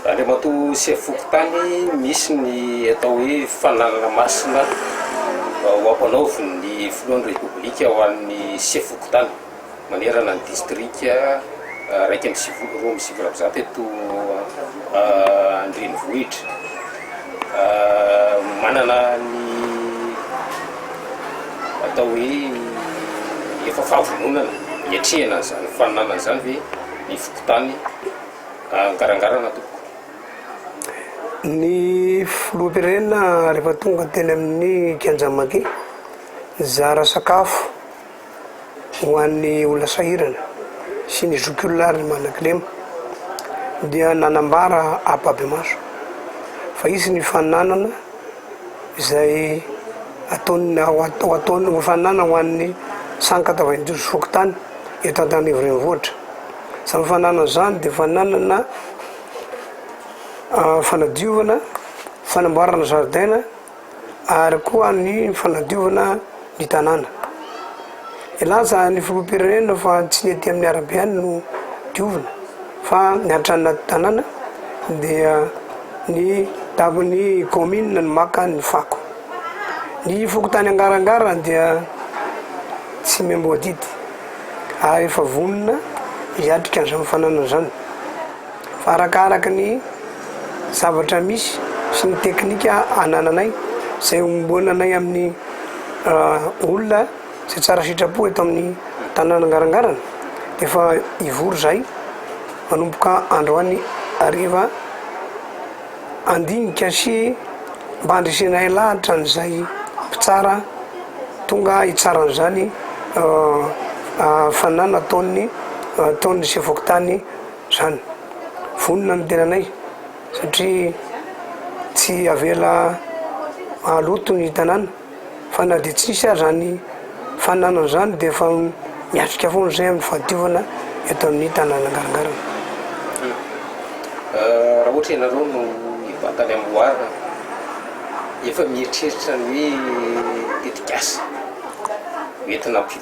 Andriamatoa Sefo Fokontany, misy ny atao hoe fananana masina ho ampanaovin'ny Filohan'ny Repoblika ho an'ny Sefo Fokontany manerana ny Distrika iraika amby sivifolo, roa amby sivifolo amby zato eto an-drenivohitra. Manana ny atao hoe efa fahavononana hiatrehana an'izany fananana izany ve ny Fokontany? Angarangarana tompoko. Ny filoham-pirenena rehefa tonga teny amin'ny kianja Maki, nizara sakafo ho an'ny olona sahirana sy ny zokiolona ary ny manana kilema dia nanambara ampahibemaso fa hisy ny fananana izay ataon'ny ho ataon'ny hofanana ho an'ny saka tavaindosy fokontany eto Antananarivo Renivohitra. Izany fananana izany dia fananana ah, fanadiovana, fanamboarana zaridaina ary koa ny fanadiovana ny tanàna. Nilaza ny filoham-pirenena fa tsy ny aty amin'ny arabe ihany no diovina fa ny hatrany anaty tanàna dia ny dagon'ny kaominina no maka ny fako. Ny fokontany Angarangara dia tsy miamboadidy ary efa vonona hiatrika an'izany fananana izany. Fa arakaraky ny zavatra misy sy ny teknika anananay, izay ombonanay amin'ny olona izay tsara sitrapo eto amin'ny tanàna Garangarana, dia efa hivory izahay manomboka androany hariva, handinika sy mba handresenay lahatra an'izay mpitsara tonga hitsara an'izany hafanana ataon'ny ataon'ny sefo-fokontany. zany. Vonona ny tenanay satria tsy avela mahaloto ny tanàna fa na dia tsisy aza zany fananana zany dia efa miatrika foana zay amin'ny fahadiovana eto amin'ny tanàna Angarangarana. Raha ohatra ianareo no hivantana amin'ny loharana, efa mieritreritra ny hoe tetikasa hoentina am.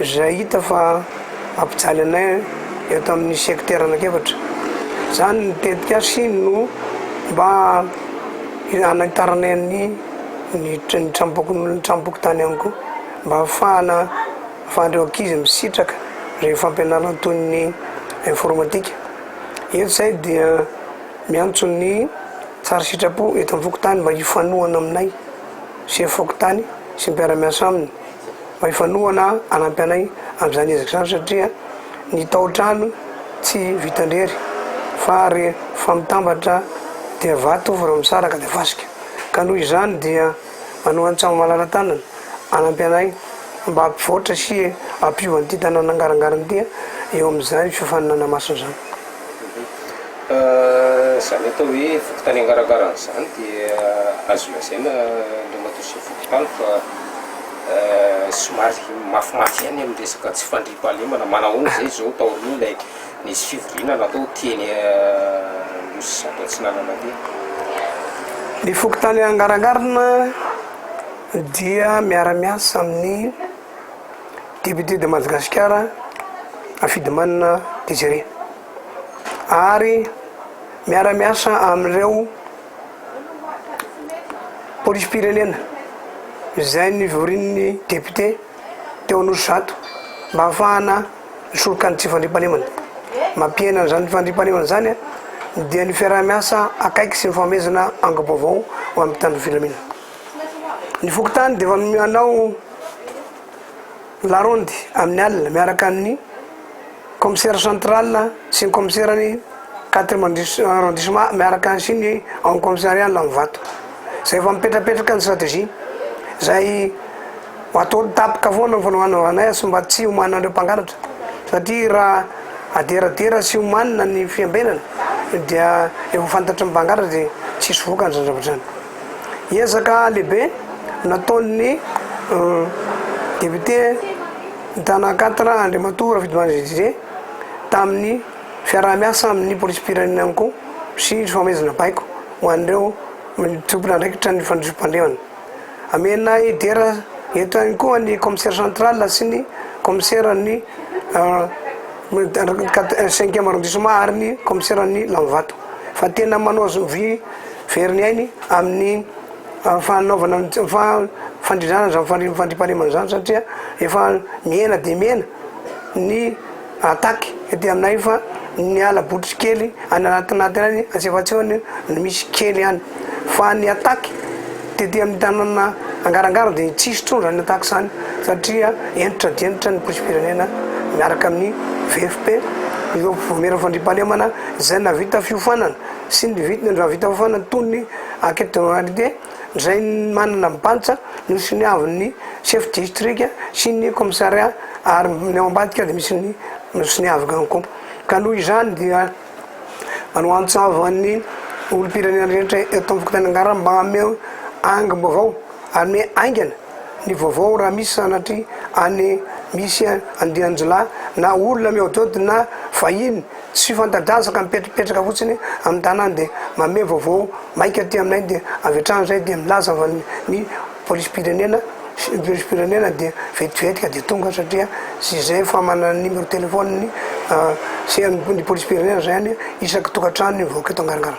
Zay hita fa mampijaly anay eto amin'ny sekitera anak'efatra. Zany ny tetik'asy no mba hanitaranay ny ny tranompokonolona ny tranompokontany ihany koa mba hahafahana afahan'ireo ankizy misitraka ireny fampianarana toy ny informatika. Eto zay dia miantso ny tsara sitrapo eto amin'ny fokontany mba hifanohana aminay sy fokontany sy mpiara-miasa aminy. mba hifanohana hanampy anay amin'izany ezaka izany satria ny tao-trano tsy vitan-drery fa rehefa mitambatra dia vato vao misaraka dia fasika ka noho izany dia manoan-tsaho malala-tanana hanampy anay mba hampivoatra sy hampiova an'ity tanàna angarangarana ity eo amin'izany fiofanana masina izany. Izany atao hoe fokontany angarahangaraha an'izany dia azo lazaina Andriamatoa sy ny fokontany fa somary mafimafy ihany amin'ny resaka tsy fandriampahalemana, manahoana izay izao taorian'ny ilay nisy fivoriana natao teny Anosy Sato Atsinanana teny? Ny fokontany Angarahangaraha dia miara-miasa amin'ny. député de Madagasikara Rafidimanana Desiré ary miara-miasa amin'ireo polisim-pirenena izay nivorin'ny député teo Anosizato mba hahafahana misoroka ny tsy fandriampahalemana. Mampihena an'izany fandriampahalemana izany dia ny fiaraha-miasa akaiky sy ny fanomezana angom-baovao ho amin'ny mpitandro filaminana. Ny fokontany dia efa manao larondy amin'ny alina miaraka amin'ny commissaire central sy ny commissaire ny quatrième arrondissement miaraka ny sy ny amin'ny commissariat Lanivato. Izay efa mipetrapetraka ny stratégie izay atao tapaka foana ny fanaovana azy mba tsy homanina an'ireo mpangalatra satria raha aderadera sy homanina ny fiambenana dia efa fantatry ny mpangalatra dia tsisy vokany izany zavatra izany. Ezaka lehibe nataon'ny député mitana quatre Andriamatoa Rafidimandry Didier tamin'ny fiaraha-miasa amin'ny polisim-pirenena ihany koa sy ny fanomezana baiko ho an'ireo tompon' andraikitra ny fandriampahalemana. Amena hidera eto ihany koa ny commissaire central sy ny commissaire ny cinquième arrondissement ary ny commissaire ny Lanivato fa tena manao vy Very ny ainy amin'ny fanaovana ny fandrindràna izany fandriampahalemana izany satria efa mihena dia mihena ny attaque ety aminay fa ny ala Botrikely any anatin'aty any antsefatseo any no misy kely any fa ny attaque tety amin'ny tanàna Angarangaro dia tsisy intsony izany attaque izany satria hentitra dia hentitra ny polisim-pirenena miaraka amin'ny VFP ireo maire fandriampahalemana izay nahavita fiofanana sy ny vidiny androany vita fofana antonony Enquête de moralité izay manana bantsa no soniavin'ny Chef Distrika sy ny Commissariat ary ny ao ambadika dia misy ny soniaviko ihany koa. Ka noho izany dia manoantsavo an'ny olom-pirenena rehetra eto amin'ny fokontany Angarana mba hameo angom-baovao ary miha haingana ny vaovao raha misy sanatria any misy andian-jilahy na olona mihaodihaody na vahiny Tsy fanta-drazaka mipetrapetraka fotsiny amin'ny tanàna dia mamehy vaovao maika aty aminay dia avy hatrany izay dia milaza fa ny polisim-pirenena sy ny polisim-pirenena dia vetivetika dia tonga satria tsy izay efa manana numéro téléphone ny sy ny polisim-pirenena izany isaky tokantrano ny vahoaka eto Angaragara.